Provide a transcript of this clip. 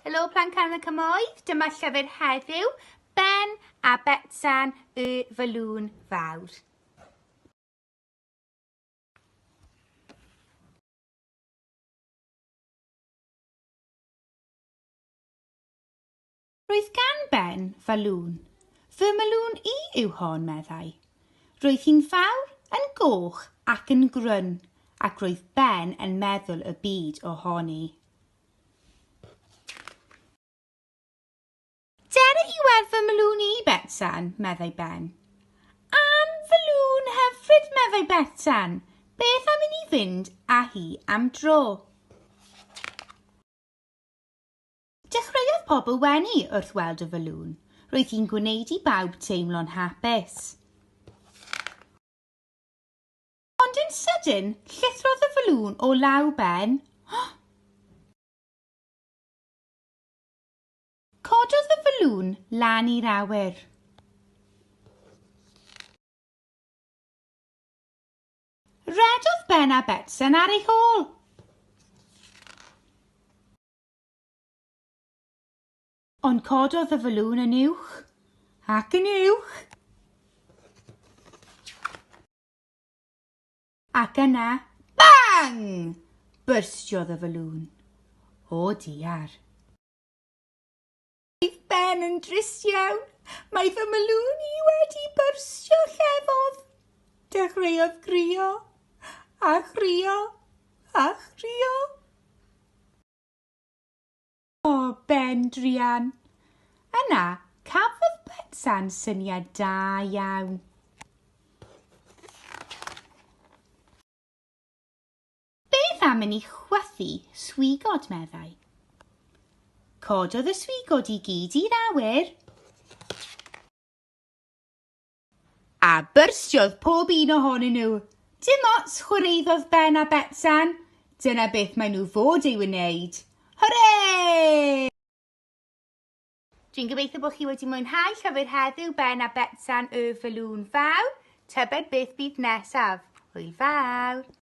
Helo Plant Can y Cymoedd, dyma llyfr heddiw, Ben a Betsan y Fylŵn Fawr. Roedd gan Ben falŵn. Fy malŵn i yw hon, meddai. Roedd hi'n fawr, yn goch ac yn grwn, ac roedd Ben yn meddwl y byd ohoni. Dere i werth fy mlwn i, Betsan, meddai Ben. Am fy lwn hyfryd, meddai Betsan. Beth am i ni fynd â hi am dro? Dechreuodd pobl wenu wrth weld y fylŵn. Roedd hi'n gwneud i bawb teimlo'n hapus. Ond yn sydyn, llithrodd y falŵn o law Ben. Cododd y falŵn lan i'r awyr. Rhedodd Ben a Betsen ar ei hôl. Ond cododd y falŵn yn uwch ac yn uwch. Ac yna, bang! Byrstiodd y faloon. O diar. Bydd Ben yn drist iawn. Mae fy maloon i wedi byrstio llefodd. Dechreuodd grio, a chrio, a chrio. O, Ben druan! Yna, cafodd Betsa'n syniad da iawn. Beth am i ni chwythu swigod, meddai. Cododd y swigod i gyd i'r awyr. A byrsiodd pob un ohonyn nhw. Dim ots, chwaraeodd Ben a Betsan. Dyna beth maen nhw fod ei wneud. Hwre! Dwi'n gobeithio bod chi wedi mwynhau llyfr heddiw Ben a Betsan y Falŵn Fawr. Tybed beth bydd nesaf? Hwyl fawr!